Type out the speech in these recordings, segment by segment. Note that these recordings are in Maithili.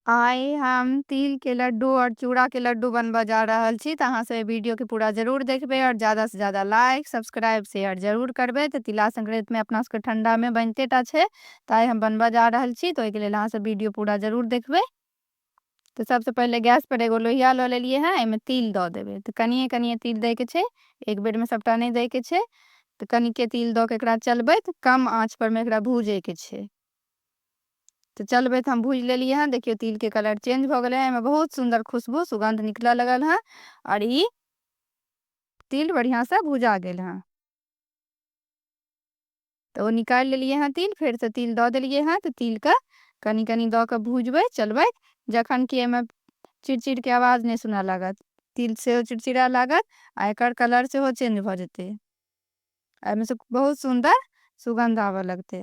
आइ हम तिल के लड्डू और चूड़ा के लड्डू बनबऽ जा रहल छी तऽ अहाँ सब ए वीडियो के पूरा जरूर देखबे और ज्यादा से ज्यादा लाइक सब्सक्राइब शेयर जरूर करबे तऽ तिला संक्रांति में अपना सबके ठंडा में बनते टा छै तऽ आइ हम बनबऽ जा रहल छी तऽ ओहि के लेल अहाँ सब वीडियो पूरा जरूर देखबे तऽ सबसे पहिले गैस पर एगो लोहिया लऽ लेलिए हैं एहिमे तिल दऽ देबे तऽ कनिए कनिए तिल दै के छै एक बेर में सबटा नहि दै के छै तऽ कनिके तिल दऽ के एकरा चलबैत कम आँच पर में एकरा भूजे के छै तऽ चलबै तऽ हम भूजि लेलियै हँ देखियौ तिलके कलर चेंज भऽ गेलै हँ एहिमे बहुत सुन्दर खुशबू सुगन्ध निकलय लगल हँ आओर ई तिल बढ़िआँसँ भुजा गेल हँ तऽ ओ निकालि लेलियै हँ तिल फेरसँ तिल दऽ देलियै हँ तऽ तिलके कनि कनि दऽ कऽ भुजबै चलबै जखन कि एहिमे चिड़चिड़के आवाज नहि सुनय लागत तिल सेहो चिड़चिड़ा लागत आ एकर कलर सेहो चेंज भऽ जेतै एहिमेसँ बहुत सुन्दर सुगन्ध आबय लगतै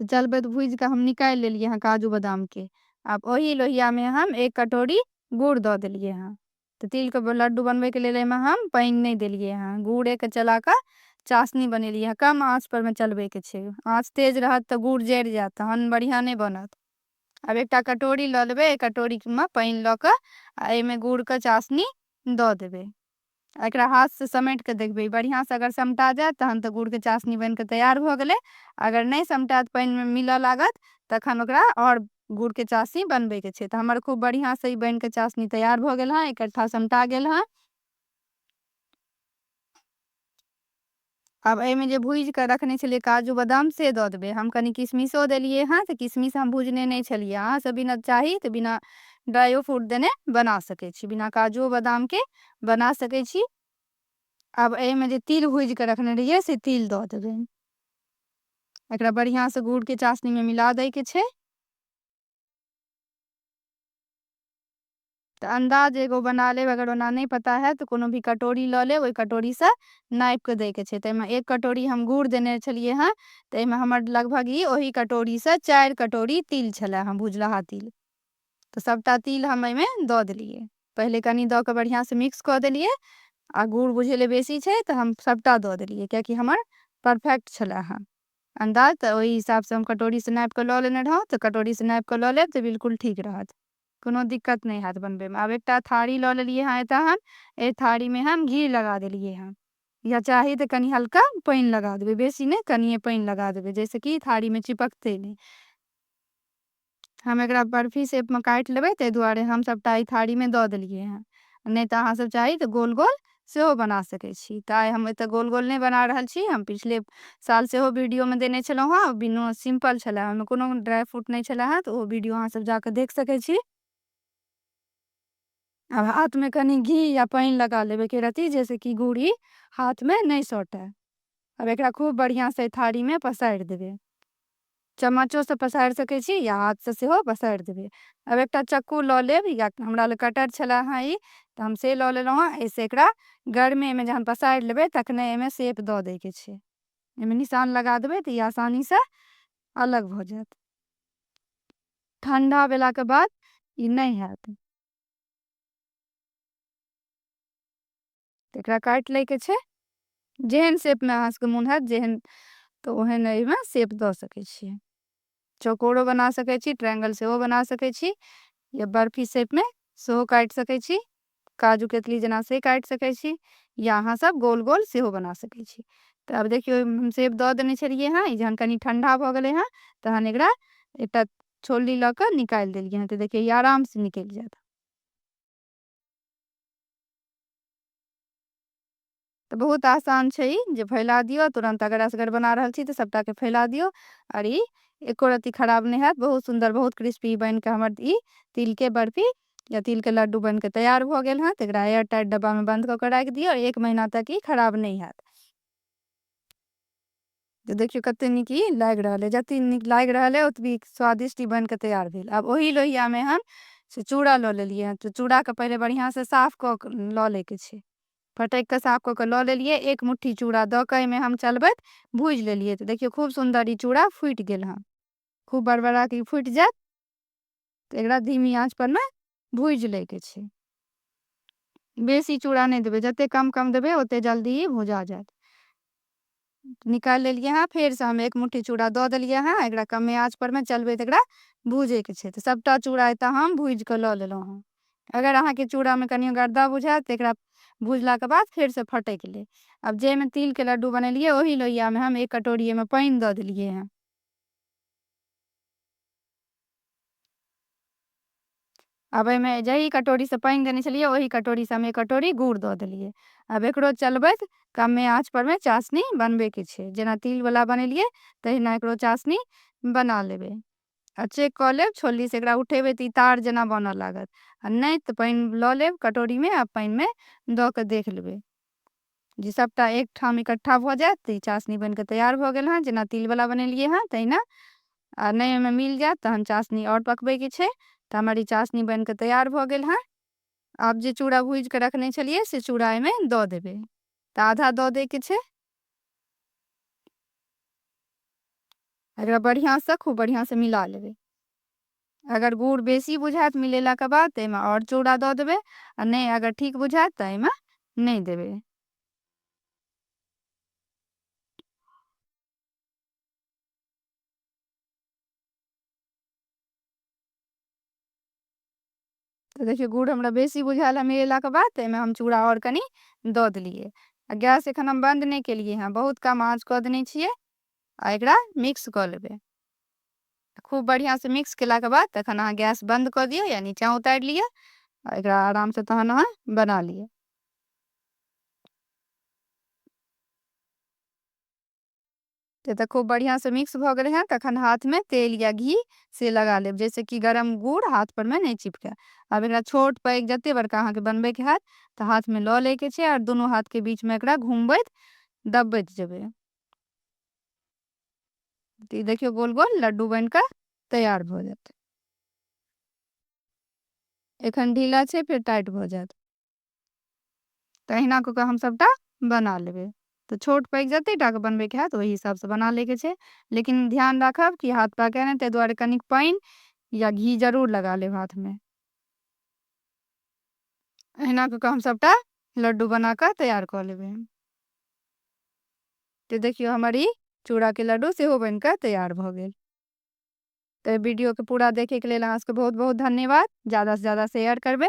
तऽ चलबै तऽ भूजि कऽ हम निकालि लेलियै हँ काजू बादामके आब ओही लोहियामे हम एक कटोरी गुड़ दऽ देलियै हँ तऽ तिलके लड्डू बनबैके लेल एहिमे हम पानि नहि देलियै हँ गुड़ेके चला कऽ चाशनी बनेलियै हँ कम आँचपरमे चलबैके छै आँच तेज रहत तऽ गुड़ जरि जायत तहन बढ़िआँ नहि बनत आब एकटा कटोरी लऽ लेबै एहि कटोरीमे पानि लऽ कऽ आ एहिमे गुड़के चाशनी दऽ देबै एकरा हाथ सँ समैट कऽ देखबै। बढ़ियाँ सँ अगर समटा जाएत तहन तँ गुड़ के चासनी बैन कऽ तैयार भऽ गेलै। अगर नै समटाएत, पाइन मे मिलऽ लागत तखन ओकरा और गुड़ के चासनी बनबै के छै। तँ हमर खूब बढ़ियाँ सँ ई बैन कऽ चासनी तैयार भऽ गेल हँ। एकट्ठा समटा गेल हँ। आब एहिमे जे भुजि कऽ रखने छलियै काजू बादाम से दऽ देबै हम कनि किशमिशो देलियै हेँ तऽ किशमिश हम भुजने नहि छलियै अहाँसभ बिना चाही तऽ बिना ड्राइओ फ्रूट देने बना सकै छी बिना काजू बादामके बना सकै छी आब एहिमे जे तिल भुजि कऽ रखने रहियै से तिल दऽ देबै एकरा बढ़िआँसँ गुड़के चाशनीमे मिला दैके छै त अन्दाज एगो बना लेब, अगर ओना नहि पता हएत त कोनो भी कटोरी ल लेब, ओहि कटोरी सँ नापि क दै के छै। त एहि मे एक कटोरी हम गुड़ देने छलियै हँ त एहि मे हमर लगभग ई ओहि कटोरी सँ चारि कटोरी तिल छलए हँ, भुजलाहा तिल। त सबटा तिल हम एहि मे द देलियै। पहिले कनी द क बढ़िया सँ मिक्स क देलियै आ गुड़ बुझेले बेसी छै त हम सबटा द देलियै किए कि हमर परफेक्ट छलए हँ अन्दाज त ओहि हिसाब सँ हम कटोरी सँ नापि क ल लेने रहौं त कटोरी सँ नापि क ल लेब त बिल्कुल ठीक रहत। कोनो दिक्कत नहि हैत बनबैमे। आब एकटा थारी लऽ लेलियै हँ एतहन। एहि थारीमे हम घी लगा देलियै हँ। या चाही तऽ कनि हल्का पानि लगा देबै। बेसी नहि, कनिए पानि लगा देबै जाहिसँ कि थारीमे चिपकतै नहि। हम एकरा बर्फी शेपमे काटि लेबै ताहि दुआरे हम सभटा एहि थारीमे दऽ देलियै हँ। नहि तऽ अहाँसभ चाही तऽ गोल गोल सेहो बना सकै छी तऽ आइ हम एतऽ गोल गोल नहि बना रहल छी हम पिछले साल सेहो वीडियो मे देने छलहुँ हेँ बिना सिम्पल छलै ओहिमे कोनो ड्राइ फ्रूट नहि छलै हेँ तऽ ओ वीडियो अहाँसभ जा कऽ देख सकै छी आब हाथ मे कनि घी या पानि लगा लेबै एक रती जैस कि गुड़ी हाथ मे नहि सटे आब एकरा खूब बढ़िआँ सँ थारीमे पसारि देबै चम्मचो सँ पसारि सकै छी या हाथ सँ सेहो पसारि देबै। आब एकटा चक्कू लऽ लेब या हमरा लग कटर छलै हँ ई तऽ हम से लऽ लेलहुँ हँ। एहि सँ एकरा गरमे एहिमे जखन पसारि लेबै तखने एहिमे शेप दऽ दै के छै। एहिमे निशान लगा देबै तऽ ई आसानी सँ अलग भऽ जायत। ठंडा भेला के बाद ई नहि हैत। तऽ एकरा काटि लैके छै जेहन शेपमे अहाँसभके मोन हैत जेहन तऽ ओहन एहिमे शेप दऽ सकै छियै चौकोरो बना सकै छी ट्रायंगल सेहो बना सकै छी या बर्फी शेपमे सेहो काटि सकै छी काजू कतली जेना से काटि सकै छी या अहाँसभ गोल गोल सेहो बना सकै छी तऽ आब देखियौ हम शेप दऽ देने छलियै हँ जहन कनि ठण्डा भऽ गेलै हँ तहन एकरा एकटा छोलनी लऽ कऽ निकालि देलियै हँ तऽ देखियौ ई आरामसँ निकलि जायत तऽ बहुत आसान छै ई जे फैला दियौ तुरन्त अगर असगर बना रहल छी तऽ सभटाके फैला दियौ आओर ई एको रत्ती खराब नहि हैत बहुत सुन्दर बहुत क्रिस्पी बनि कऽ हमर ई तिलके बर्फी या तिलके लड्डू बनि कऽ तैयार भऽ गेल हँ तऽ एकरा एयर टाइट डब्बामे बन्द कऽ कऽ राखि दियौ एक महीना तक ई खराब नहि हैत तऽ देखियौ कते नीक ई लागि रहल अइ जतेक नीक लागि रहल अइ ओतबी स्वादिष्ट ई बनि कऽ तैयार भेल आब ओही लोहियामे हम से चूड़ा लऽ लेलियै हँ तऽ चूड़ाके पहिले बढ़िआँसँ साफ कऽ कऽ लऽ लैके छै फटकि कऽ साफ कऽ कऽ लऽ लेलियै एक मुट्ठी चूड़ा दऽ कऽ एहिमे हम चलबैत भूजि लेलियै तऽ देखियौ खूब सुन्दर ई चूड़ा फूटि गेल हँ खूब बड़बड़ा कऽ ई फूटि जायत तऽ एकरा धीमी आँच पर ने भूजि लै के छै बेसी चूड़ा नहि देबै जते कम कम देबै ओते जल्दी ई भुजा जायत निकालि लेलियै हँ फेरसँ हम एक मुट्ठी चूड़ा दऽ देलियै हँ एकरा कमे आँच परमे चलबै तऽ एकरा भूजैके छै तऽ सभटा चूड़ा एतऽ हम भूजि कऽ लऽ लेलहुँ हँ अगर अहाँके चूड़ामे कनियो गर्दा बुझायत तऽ एकरा भुजलाके बाद फेरसँ फटकि लेब आब जाहिमे तिलके लड्डू बनेलियै ओहि लोहियामे हम एक कटोरी एहिमे पानि दऽ देलियै हँ आब एहिमे जही कटोरीसँ पानि देने छलियै ओही कटोरीसँ हम एक कटोरी गुड़ दऽ देलियै आब एकरो चलबैत कमे आँचपरमे चाशनी बनबैके छै जेना तिलवला बनेलियै तहिना एकरो चाशनी बना लेबै आ चेक कऽ लेब छोलनीसँ एकरा उठेबै तऽ ई तार जेना बनऽ लागत आ नहि तऽ पानि लऽ लेब कटोरीमे आ पानिमे दऽ कऽ देख लेबै जे सभटा एक ठाम इकट्ठा भऽ जायत तऽ ई चासनी बनि कऽ तैयार भऽ गेल हँ जेना तिलवला बनेलियै हँ तहिना आ नहि ओहिमे मिल जायत तहन चासनी आओर पकबैके छै तऽ हमर ई चासनी बनि कऽ तैयार भऽ गेल हँ आब जे चूड़ा भूजि कऽ रखने छलियै से चूड़ा एहिमे दऽ देबै तऽ आधा दऽ दैके छै एकरा बढ़िआँसँ खूब बढ़िआँसँ मिला लेबै अगर गुड़ बेसी बुझायत मिलेलाके बाद तऽ एहिमे आओर चूड़ा दऽ देबै आ नहि अगर ठीक बुझायत तऽ एहिमे नहि देबै तऽ देखियौ गुड़ हमरा बेसी बुझायल ह मिेलाके बाद तऽ एहिमे हम चूड़ा आओर कनि दऽ देलियै आ गैस एखन हम बन्द नहि केलियै हेँ बहुत कम आँच कऽ देने छियै आ एकरा मिक्स कऽ लेबै खूब बढ़िआँसँ मिक्स केलाके बाद तखन अहाँ गैस बन्द कऽ दियौ या नीचाँ उतारि लिअ आ एकरा आरामसँ तहन अहाँ बना लिअ तऽ खूब बढ़िया से मिक्स भऽ गेलै हैं तखन हाथ में तेल या घी से लगा लेब जैसे कि गरम गुड़ हाथ पर में नहीं चिपके अब एक छोट पैघ जते बड़का अहाँ के बनबे के हाथ तो हाथ में लऽ ले के छे और दोनों हाथ के बीच में एक घूमबैत दबबैत जेबे तो देखियो गोल गोल लड्डू बन के तैयार भऽ जाते एखन ढीला छे फिर टाइट भऽ जाते तऽ अहिना कऽ कऽ हम सभटा बना लेबै तऽ छोट पैघ जतेक टाके बनबैके हैत ओहि हिसाबसँ बना लैके छै लेकिन ध्यान राखब कि हाथ पाके नहि ताहि दुआरे कनिक पानि या घी जरूर लगा लेब हाथमे अहिना कऽ कऽ हम सभटा लड्डू बना कऽ तैयार कऽ लेबै तऽ देखियौ हमर ई चूड़ाके लड्डू सेहो बनि कऽ तैयार भऽ गेल तऽ वीडियोके पूरा देखैके लेल अहाँ सबके बहुत बहुत धन्यवाद ज्यादासँ ज्यादा शेयर करबै